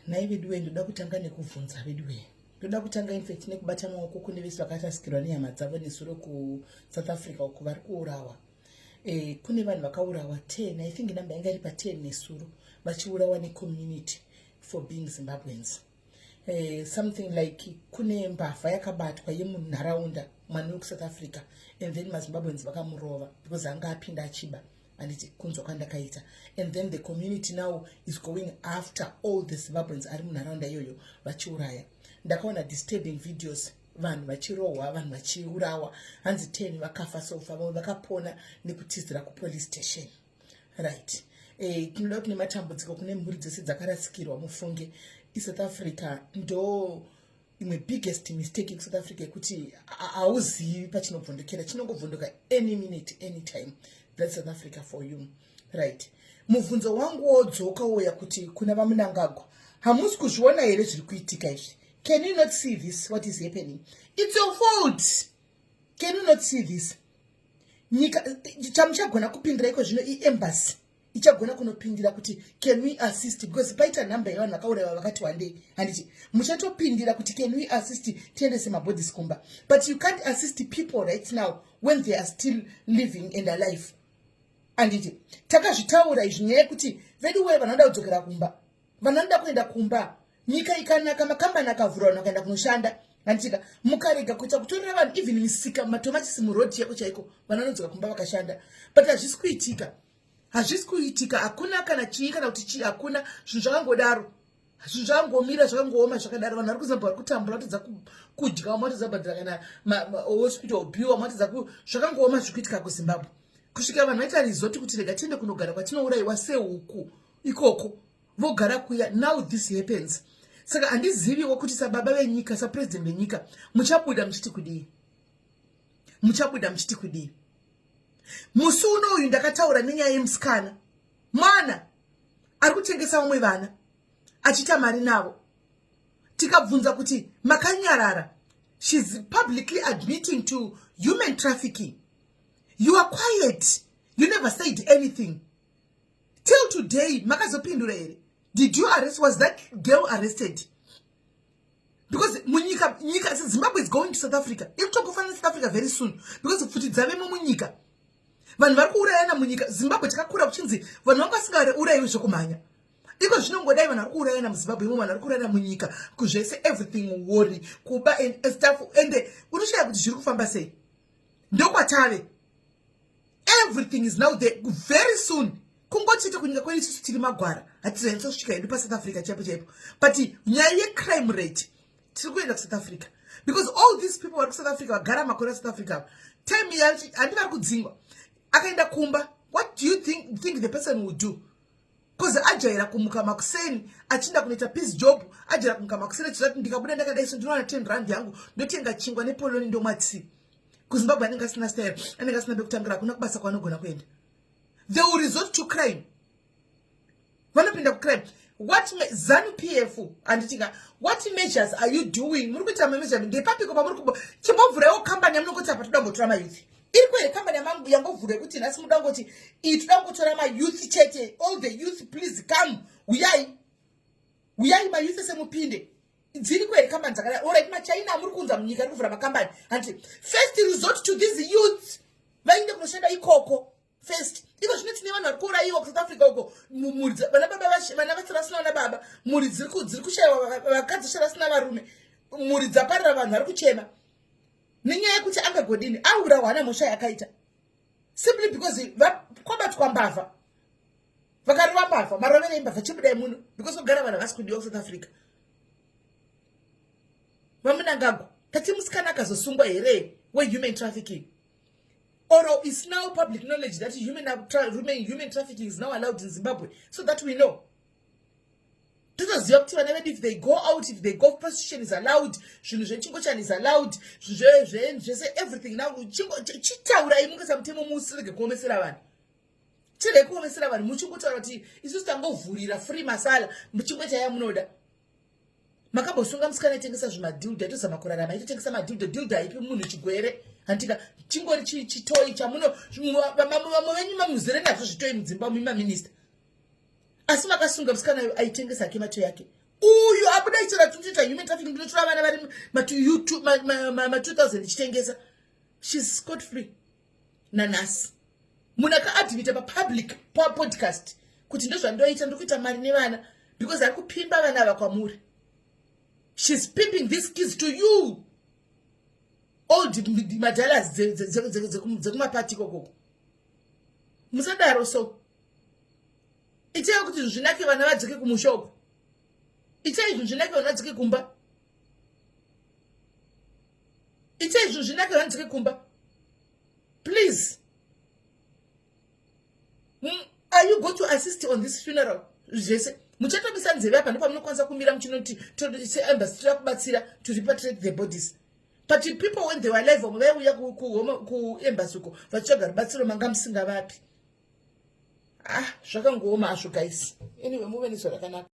nhai veduwee ndoda kutanga nekubvunza veduwee ndoda kutanga infact nekubata maoko kune vese vakarasikirwa nehama dzavo nesuro kusouth africa uku vari kuurawa e, kune vanhu vakaurawa ten i think number yanga iri paten nesuro vachiurawa necommunity for being zimbabweans eh, something like kune mbavha yakabatwa yemunharaunda mwana wekusouth africa and then mazimbabweans vakamurova because anga apinda achiba anditi kunzwa kwandakaita and then the community now is going after all the zimbabweans ari munharaunda iyoyo vachiuraya ndakaona disturbing videos vanhu vachirohwa vanhu vachiurawa hanzi ten vakafa sofa vamwe vakapona nekutizira kupolice station right eh, tinoda kuti nematambudziko kune mhuri dzese dzakarasikirwa mufunge isouth africa ndo imwe biggest mistake yekusouth africa yekuti hauzivi pachinobvondokera chinongobvondoka any minute any time that's south africa for you right mubvunzo wangu wodzoka wouya kuti kuna vamunangagwa hamusi kuzviona here zviri kuitika izvi can you not see this what is happening it's your fault can you not see this nyika chamuchagona kupindira iko zvino iembassy ichagona kunopindira kuti can we assist because paita number yevanhu vakauraiwa vakati wandei handiti muchatopindira kuti can we assist tiendese mabodies kumba but you can't assist people right now when they are still living and alive handiti takazvitaura izvi nyaya yekuti vedu wee vanoda kudzokera kumba vanoda kuenda kumba nyika ikanaka makambani akavhura vanhu vakaenda kunoshanda handitika mukarega kuita kutorera vanhu even misika matomatisi muroad chaiko chaiko vanhu vanodzoka kumba vakashanda but hazvisi kuitika hazvisi kuitika hakuna kana chii kana kuti chii hakuna zvinhu zvakangodaro zvinhu zvakangomira zvakangooma zvakadaro vanhu vari kuzambwa vari kutambura vatadza kudya vamwe vatadza kubhadhira kana osi kuita ubiwa vamwe vatadza zvakangooma zviri kuitika kuzimbabwe kusvika vanhu vaita rizoti kuti rega tiende kunogara kwatinourayiwa sehuku ikoko vogara kuya now this happens saka handiziviwo kuti sababa venyika sapresident venyika muchabuda muchiti kudii muchabuda muchiti kudii musi uno uyu ndakataura nenyaya yemusikana mwana ari kutengesa vamwe vana achiita mari navo tikabvunza kuti makanyarara shes publicly admitting to human trafficking you are quiet you never said anything till today makazopindura here did you arrest was that girl arrested because munyika nyika zimbabwe is going to south africa ikutokufanira south africa very soon because pfuti dzavemo munyika vanhu vari kuurayana munyika zimbabwe takakura kuchinzi vanhu vanga vasingaurayiwi zvekumhanya iko zvinongodai vanhu vari kuurayana muzimbabwe imo vanhu vari kuurayana munyika kuzvese everything worry kuba staff ende unoshaya kuti zviri kufamba sei ndokwatave everything is now there very soon kungochete kunyika kwedu isusu tiri magwara hatizanyatsa kusvika hedu pasouth africa chaipo chaipo but nyaya yecrime rate tiri kuenda kusouth africa because all these people vari kusouth africa vagara makore asouth africa ava time yacho handi vari kudzingwa akaenda kumba what do you think, think the person will do bcause ajaira kumuka makuseni achinda kunoita peace job ajaira kumuka makuseni achizati ndikabuda ndakadaiso ndinowana ten rand yangu ndotenga chingwa nepoloni ndomwatsii kuzimbabwe anenge asina style anenge asina bekutangira hakuna kubasa kwaanogona kuenda they will resort to crime vanopinda kucrime what zanu p f handitika what measures are you doing muri kuita mameasure ndepapiko pamuri kubo chimbovhuraiwo kambani yamunongoti apa toda mbotora mayouth iri kwere kambani yangovhura yekuti nhasi muda ngoti iyi toda ngotora mayouth chete all the youth please come huyai huyai mayouth ese mupinde dziriko here kambani dzakadai orit machina amuri kuunza munyika ari kuvhura makambani hanti first resort to these youths vainde kunoshanda ikoko first iko zvino tine vanhu vari kuurayiwa kusouth africa uko vana baba vana vasara vasina vana baba mhuri dziri kushayiwa vakadzi vasara vasina varume mhuri dzaparira vanhu vari kuchema nenyaya yekuti angagodini aurawa hana mhosva yakaita simply because kwabatwa mbavha vakarova mbavha marovero imbavha chibudai muno because kugara vanhu havasi kudiwa kusouth africa vamunangagwa tati musikana akazosungwa here wehuman trafficking or is now public knowledge that human, tra human, human trafficking is now allowed in zimbabwe so that we know totoziva kuti vana vedu if they go out if they go prostitution is allowed zvinhu zvechingochani is allowed zvinhu zvese everything now chitaurai mukasa mutemo musi rege kuomesera vanhu Chirei kuomesera vanhu muchikutaura kuti isusu tangovhurira free masala muchingwe chaya munoda. Makambosunga musikana itengesa zvimadhilda itozama kurarama itotengesa madhilda dhilda haipi munhu chigwere handika chingori chitoyi chamuno vamwe venyu mamuzere nazvo zvitoyi mudzimba muma minista asi makasunga musikana yo aitengesa ake mato yake uyu abuda ichira tutoita human trafficking ndinotora vana vari ma2000 ichitengesa shes scot free nanhasi munhu akaadmita papublic papodcast kuti ndozvandoita ndiri kuita mari nevana because ari kupimba vana ava kwamuri shes pimping these kids to you old madalas dzekumapati ikokoko musadaro so itai kuti zvinake vana vadzoke kumushoko itai zvinhu zvinake vana vadzoke kumba Itai izvo zvinaka hanzike kumba. Please. Mm, are you going to assist on this funeral? Zvese. Muchatobisa nzeve apa nepamunokwanisa kumira muchinoti seembassy toda kubatsira to repatriate the bodies. But the people when they were alive vamwe vaiuya kuembassy uko vachitsvaga rubatsiro manga musingavapi. Ah, zvakangooma hazvo guys. Anyway, muve nezuva rakanaka.